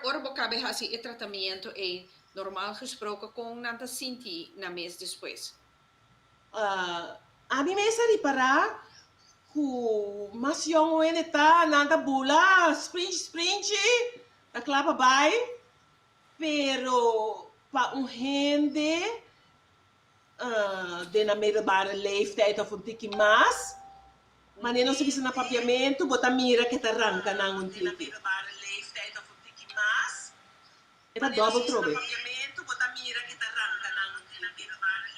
Ora bo cabe haci e tratamiento ey, normal gesproke con nan ta sinti na mes despues? Ami mes a ripara cu mas yong un hende ta, nan ta bula, sprinchi sprinchi, ta cla pa bay, pero pa un hende. Den nan middelbare leeftijd of un tiki mas, wanneer nos a bisa na papiamentu, bo ta mira ku e ta ranka nan un tiki. E ta dòbbel trobe.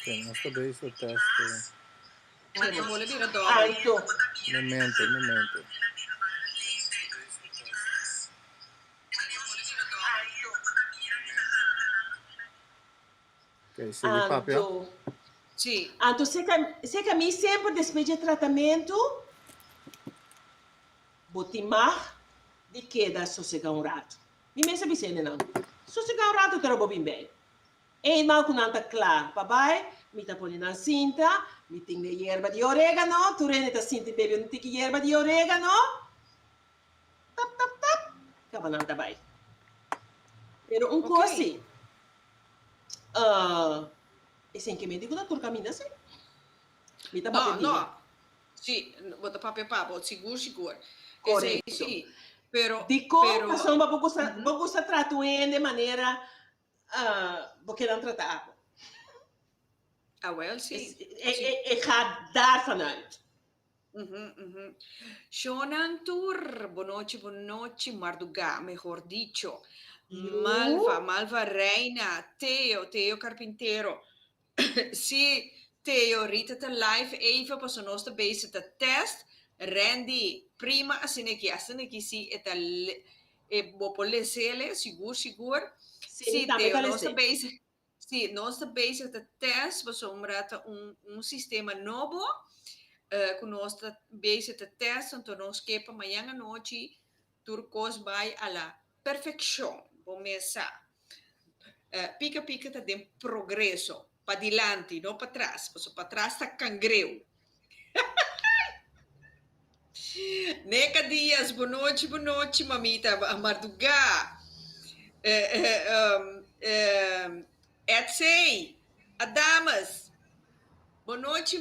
Oké, nos ta bay hizo test cu. Alto. Momento, momento. Anto, Sí. Anto se ka mi semper despues dje tratamentu, bo tin mag di keda sosega un ratu. Mi mes a bisa hende nan, Sosega un ratu tora bo bin bai. Eindman ku nan ta kla pa bai, mi ta pone nan sinta, mi tin e yerba di oregano, tur hende ta sinti bebi un tiki yerba di oregano, Tap, tap, tap, kabanan ta bai. Pero un kosi, uh, esei ke mi di ku ta tur kaminda así? Mi ta papia bia. Si, bo ta papia pa bo, sigur, sigur. Esei si, pero, pero. Dikon pasobra bo ta gusta, bo gusta trata un hende manera, uh, bo keda nan trata abo? Awel, si. E, e, e gaat daarvanuit. Uhuh uhuh. Shownan tur, bo nochi bo nochi, mardugá mehor dicho. Yu. Malva, Malva Reina, Teo, Teo Carpintero. Sí, Teo, Rita ta live even paso nos ta bezig ta test. Randy, prima asineki, asineki sí e ta le, e bo por lese le, sigur sigur. Sí, Sí, tambe Teo, ta nos ta lese. bezig, Sí, nos ta bezig ta tèst pasobra ta un un sistema nobo ku nos ta bezig ta tèst anto nos ke pa mañan anochi tur kos bai a la perfekshon. Bo mes sa pika pika ta den progreso, padilanti no patras, pasobra patras ta kangreu. Neka dias, bu nochi, bu nochi, mamita, a marduga, eh, eh, um, eh, etsey, a dames, bo nochi,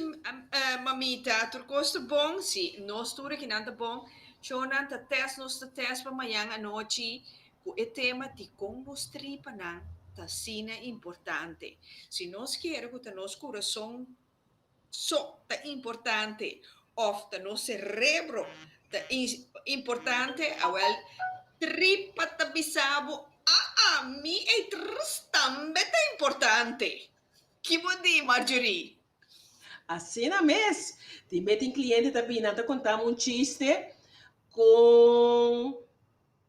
eh, mamita, tur kos ta bon? Si, nos tur aki nan ta bon, chonan ta test, nos ta test pa mayan anochi ku e tema dikon bos tripanan ta asina importante. Si nos kere ku ta nos kurason. so ta importante of ta nos cerebro ta importante awel tripa ta bisa bo aa mi ei trrss tambe ta importante ki bo di Marjorie? Asina mes tin be tin cliente ta bina ta contam un chiste con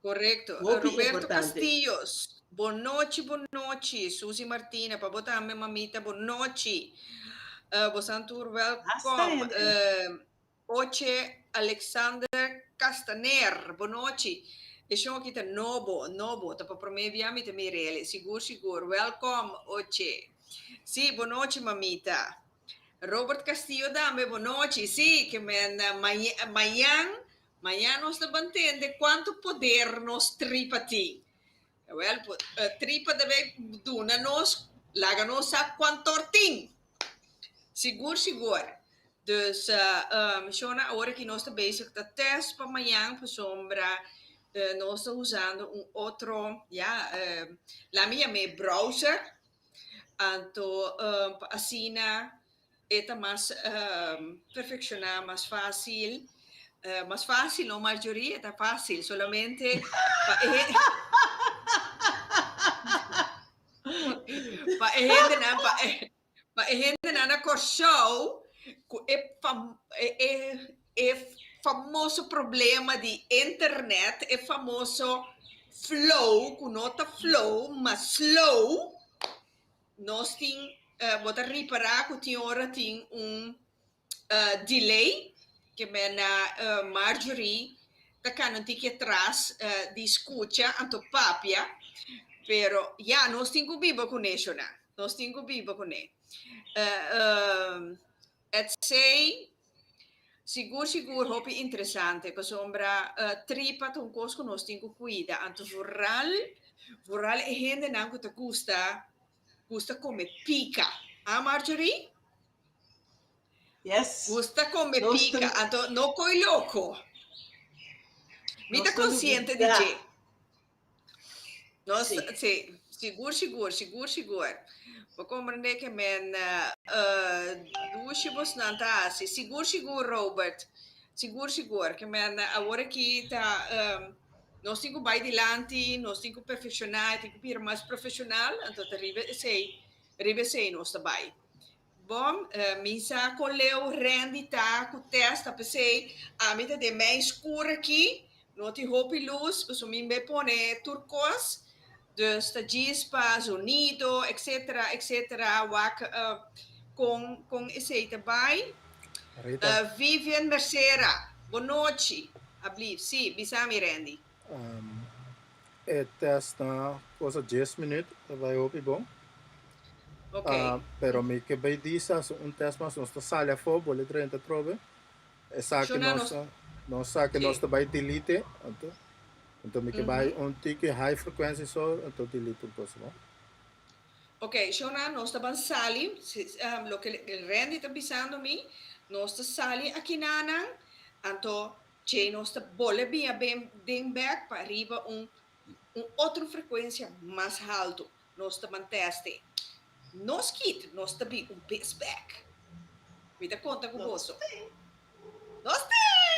Correcto. Roberto Castillos, Bo nochi, bo nochi. Susie Martina, pa bo tambe mamita, bo nochi. Bosan tur welkom. Oche Alexander Castaner, bo nochi. E show aki ta nobo, nobo. Ta pa prome bia mi ta mira el. Sigur, sigur. Welkom Oche. Si, bo nochi mamita. Robert Castillo tambe, bo nochi. Si, ke men mañan Maña nos ta ban tende cuanto poder nos tripa tin. Jawel, tripa ta bay duna nos, laga nos sa cuantor tin. Sigur, sigur. Dus, shona awor aki nos ta bezig ta test pa mañan pasobra nos ta usando un otro, ya, laga mi yam'e browser. Anto, pa asina. e ta mas perfecciona mas facil mas facil no Marjorie e ta facil solamente pa e pa e hende nan pa e hende nan na Kòrsou cu e e famoso problema di internet e famoso flow cu no ta flow mas slow Nos tin, eh, bo ta ripará ku tin ora tin un, eh, delay, ke mena, eh, Marjorie ta kana tiki atras, eh, di skucha anto papia, pero ya, nos tin ku biba ku neshonan, nos tin ku biba ku ne. Eh, eh. Ets. Sigur sigur hopi interesante pasobra tripa ta un kos ku nos tin ku kuida anto vooral vooral e hendenan ku ta gusta gusta kome pika a Marjorie? Yes gusta kome pika anto no koiloko mi ta konsiente di dje. Nos ta, sí, sigur, sigur, sigur, sigur. Bo comprende que men dushi bosnan ta haci. Sigur, sigur, Robert. Sigur, sigur, que men awor aki ta, nos tin cu bai dilanti, nos tin cu perfecciona, e tin cu bira mas profesional, anto ta riba esey, riba esey nos ta bai. Bon, mi sa kon leu Randy ta ku Tess ta p'esei ami ta den mei skur aki, no tin hopi lus, paso mi be pone tur kos, dus ta djis pa zonido etc etc wak kon kon esei ta bai. Rita. Vivian Mercera, Bo nochi, ablief, si, bisa mi Randy. E test na cosa dies minuut ta bai hopi bon. Okay. Ah, pero mi ke bay disa so un test mas nos ta sale afo bole drenta trobe. Esa ke Shona nos nos- nos sa ke Sí. nos ta bay delete anto. Anto mi ke bay un tiki high frequency so anto delete un cosa no. Ok, Shona, nos ta ban sali, si- ehm, loke Randy ta bisando mi, nos ta sali akinanan, anto Dje nos ta bole bia ben den bek pa riba un un otro frekuensia mas haltu. Nos ta manteste. Nos kit nos ta bi un bes bek. Mi ta konta ku boso. Nos ten!